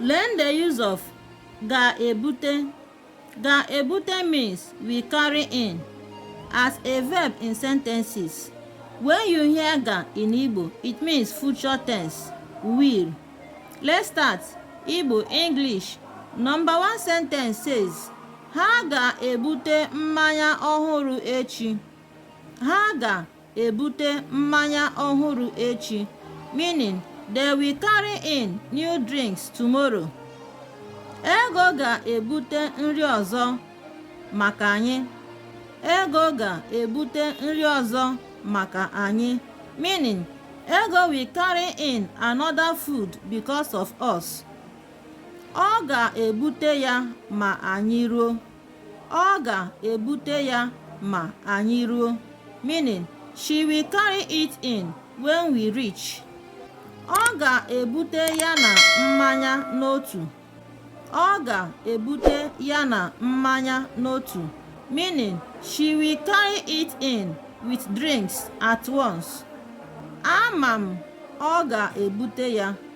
Learn the use of ga-ebute ga-ebute means we carry in as a verb in sentences. When you hear ga in Igbo, it means future tense, will. Let's start. Igbo, English. Number one sentence says, Ha ga-ebute mmanya ọhụrụ echi. Ha ga ebute mmanya ọhụrụ echi meaning they will carry in new drinks tomorrow ego ga-ebute nri ọzọ maka anyị ego ga-ebute nri ọzọ maka anyị meaning ego will carry in another food because of us ọ ga-ebute ya ma anyị ruo Ọ ga-ebute ya ma anyị ruo. Meaning, she will carry it in when we reach. Ọ ga-ebute ya na mmanya n'otu. Ọ ga-ebute ya na mmanya n'otu. Meaning, she will carry it in with drinks at once. Ama m, ọ ga-ebute ya.